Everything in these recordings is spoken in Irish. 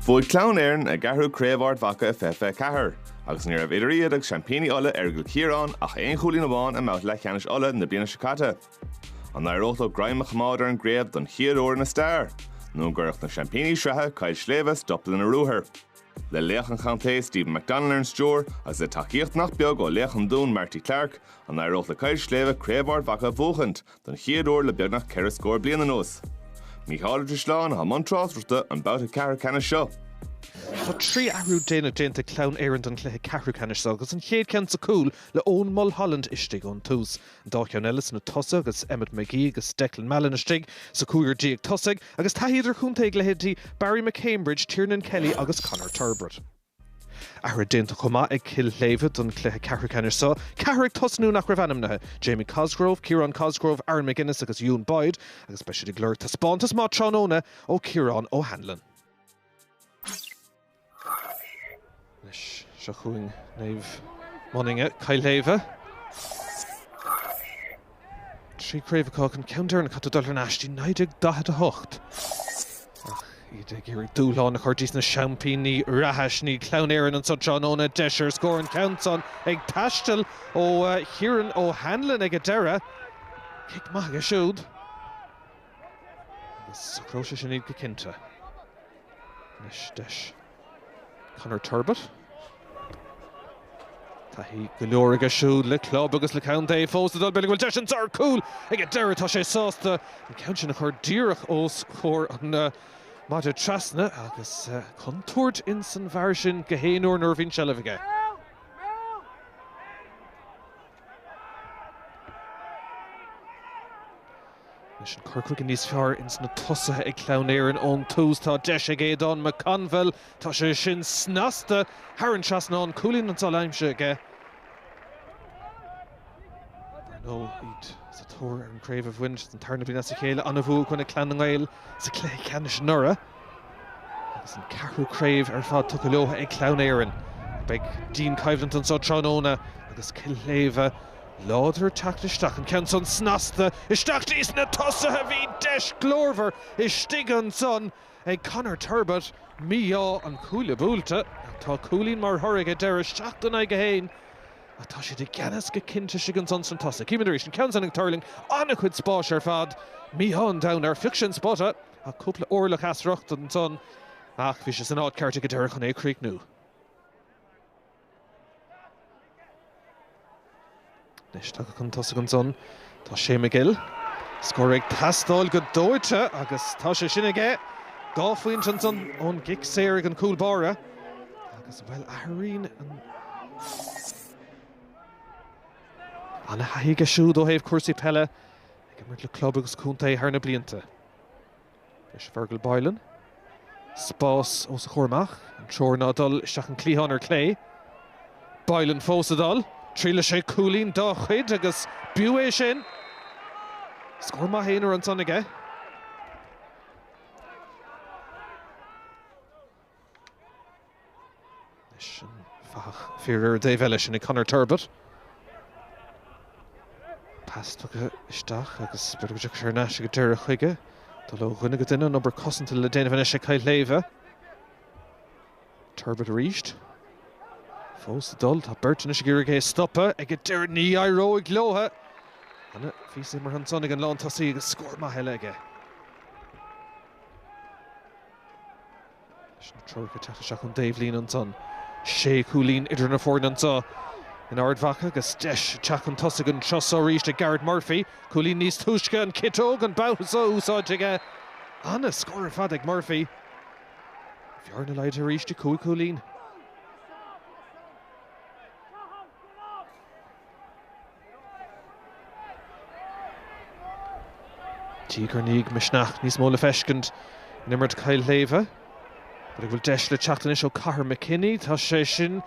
Bhuaigh Clann Éireann a gceathrú Craobh Ard Mhacha i 2024, agus ní raibh idir iad agus seaimpíní Uladh Aireagal Ciaráin ach aon chúilín amháin i mbabhta leathcheannais Uladh na bliana seo caite. An n-éireodh leo greim a choimeád ar an gcraobh don chéad uair ina stair, nó an gcuirfeadh na seaimpíní sraithe Cill Shléibhe stop lena ruathar? Le laoch an chontae Stephen McDonnell ar an stiúir, agus le tacaíocht nach beag ó laoch an Dúin Marty Clarke, an n-éireodh le Cill Shléibhe Craobh Ard Mhacha a bhuachaint, don chéad uair le beagnach ceithre scór bliain anuas. Mícheál Ó Drisleáin atá i mbun tráchtaireachta an babhta ceathrúcheannais seo. Tá trí athrú déanach déanta ag Clann Éireann don chluiche ceathrúcheannais seo agus an chéad cheann sa chúl le Eoghan Mulholland istigh ón tús, an dá cheann eile sna tosaithe agus Emmet Magee agus Declan Mallon istigh sa chúigear déag tosaigh agus taithí idirchontae ag leithéidí Barry McCambridge, Tiernan Kelly agus Conor Turbitt. Athruithe déanta chomh maith ag Cill Shléibhe don chluiche ceathrú ceannais seo, ceathrar ag tosnú nach raibh ainmnithe, Jamie Cosgrove, Ciarán Cosgrove, Aaron McGuinness agus Ewan Boyd, agus beidh siad ag lorg taispeántas maith tráthnóna ó Ciaron O'Hanlon. Anois, seo chugainn Naomh Moninne, Cill Shléibhe. trí chraobh acu an ceann deireanach caithfidh tú dul thar n-ais dtí 1948 ach iad ag iarraidh dúshlán a chur dtí sna seaimpíní reatha, sin iad Clann Éireann anso tráthnóna. Deis ar scór an ceann san ag taisteal ó Ciaron O'Hanlon ag an deireadh. Cic maith aige siúd agus socróidh sé sin iad go cinnte. Anois deis Conor Turbitt. Taithí go leor aige siúd le club agus le contae fós ag dul bhuel, an bhfuil deis anso ar chúl ag an deireadh. Tá sé sásta an ceann sin a chur díreach os comhair an mhaide trasna agus contúirt ins an bhfear sin gach aon uair nuair a bhíonn seilbh aige. Anois an cur chuige níos fearr ins na tosaithe ag Clann Éireann ón tús, tá deis ag Aodhán McConville, tá sé sin snasta, thar an trasnán, cúilín ansan aimsithe aige, ar ndóigh, iad sa tóir ar an chraobh a bhaint, don tarna bliain as a chéile, an-bhua i gcoinne Clann na nGael sa chluiche ceannais anuraidh. Agus an ceathrú craobh ar fad tugtha leotha ag Clann Éireann, beidh dianchoimhlint anso tráthnóna agus Cill Shléibhe láidir ag teacht isteach, an ceann san snasta isteach dtí's na tosaithe. Bhí deis glórmhar istigh ansan ag Conor Turbitt, mí-ádh an cuaille buailte, ach tá cúilín mar thoradh ag an deireadh, seacht in aghaidh a haon ach tá siad i gceannas go cinnte istigh ansan sna tosaithe. Címid arís an ceann san ag tuirling, an-chuid spáis ar fad, mí-ádh an domhain air, phioc sé an spota. Tá cúpla orlach as riocht ansan, ach bhí sé san áit cheart ag an deireadh chun é a chríochnú. Anois tagtha chun tosaigh ansan, tá Shea Magill. Scór ag teastáil go dóite agus tá sé sin aige. Dhá phointe ansan ón gcic saor ag an gcúl báire agus, bhuel, athraíonn an Ana-thaithí aige siúd ó thaobh cúrsaí peile. Ag imirt le club agus contae thar na blianta, deis Fergal Boylan spás os a chomhair amach, an treoir ná dul isteach an cliathán ar clé. Boylan fós ag dul, triailfidh sé cúilín dá chuid agus b'fhiú é sin. Scór maith aonair ansan aige. Anois an fathach fir ar an dtaobh eile, sin é Conor Turbitt. Pas tugtha isteach agus b'fhéidir go dtiocfaidh sé ar ais ag an deireadh chuige. Dul ó dhuine go duine, an obair cosanta le déanamh anois ag Cill Shléibhe. Turbitt arís. Fós ag dul, tá beirt anois ag iarraidh é a stopadh ag an deireadh, ní éireoidh leotha! Ana-phíosa imeartha ansan ag an lántosaí agus scór maith eile aige. leis na treoracha teacht isteach ón dtaobhlíne ansan. Sé chúilín idir na foirne anso in Ard Mhacha agus deis ag teacht chun tosaigh an treo so arís ag Gareth Murphy. Cúilín níos túisce, an chiotóg, an babhta so, úsáidte aige. An-scór ar fad ag Murphy. An bhearna laghdaithe arís dtí cúig cúilín. Tig gur níodh misneach níos mó le feiscint in imirt Chill Shléibhe. B'fhéidir go bhfuil deis le teacht anois ó Cathair McKinney, tá sé sin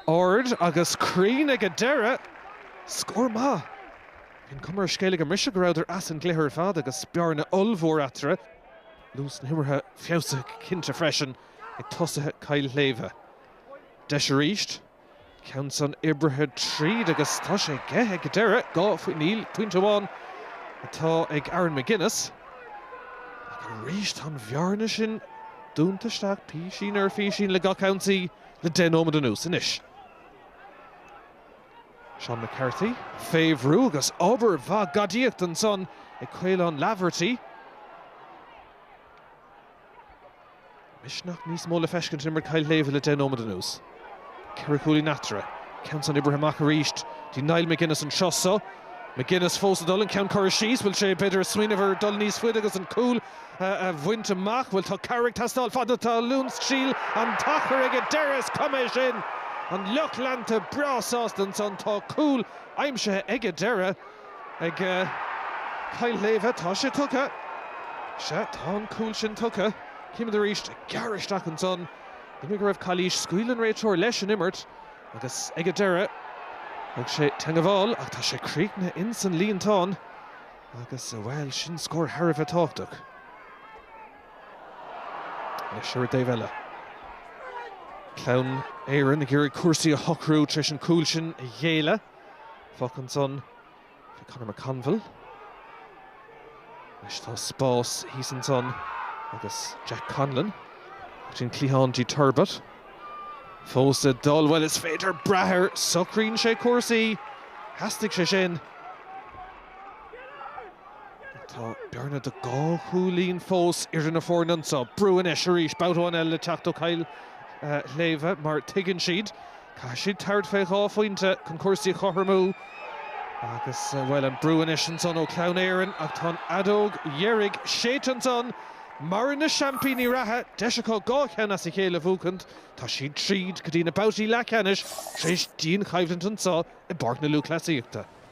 ard agus cruinn ag an deireadh. Scór maith. Bhí an cuma ar an scéal ag an mbriseadh go rabhadar as an gcluiche ar fad agus bearna ollmhór eatarthu. Luas na himeartha feabhsaithe go cinnte freisin ag tosaithe Chill Shléibhe. Deis arís. ceann san oibrithe tríd agus tá sé aige ag an deireadh, dhá phointe, níl, pointe amháin atá ag Aaron Magennis. Ach arís tá an bhearna sin dúnta isteach písín ar phísín le gach ionsaí le deich nóiméad anuas. Anois Seán McCarthy, fé bhrú agus obair mhaith gadaíochta ansan ag Caolán Laverty, Misneach níos mó le feiscint in imirt Chill Shléibhe le deich nóiméad anuas. Ceithre chúilín eatarthu. Ceann san oibrithe amach arís. Dtí Niall Magennis an treo so. Magennis fós ag dul, an ceann curtha síos. Bhfuil sé, b'fhéidir, ag smaoineamh ar dhul níos faide agus an cúl a bhaint amach? Bhuel, tá cabhair ag teastáil. Fad na talún is níl an t-achar ag an deireadh, is cuma é sin. An lucht leanta breá sásta ansan. Tá cúl aimsithe ag an deireadh. Ag Cill Shléibhe tá sé tugtha. Sea, tá an cúl sin tugtha. Címid arís ag gearradh isteach ansan. B'fhéidir go raibh cailís. Scaoil an réiteoir leis an imirt agus ag an deireadh thóg sé teangmháil ach tá sé críochnaithe ins an líontán agus, bhuel, sin scór thar a bheith tábhachtach. Anois ar an dtaobh eile. Clann Éireann ag iarraidh cúrsaí a shocrú tar éis an cúl sin a ghéilleadh. Féach ansan fé Conor McConville. Anois tá spás thíos ansan agus Jack Conlon ar an gcliathán clé Turbitt fós le dul. Bhuel, is féidir brath air, socraíonn sé cúrsaí. Theastaigh sé sin. Tá bearna de dhá chúilín fós idir na foirne anso. Brú anois arís, babhta amháin eile le teacht ó Chill Shléibhe mar tuigeann siad Caithfidh siad tabhairt fé dhá phointe chun cúrsaí a chothromú agus, bhuel, an brú anois ansan ó Chlann Éireann ach tá an fheadóg dheiridh séidte ansan. Maireann na seaimpíní reatha, deis acu dhá cheann as a chéile a bhuachaint. Tá siad tríd go dtí na babhtaí leathcheannais tar éis dianchoimhlint anso i bPáirc na Lúthchleasaíochta.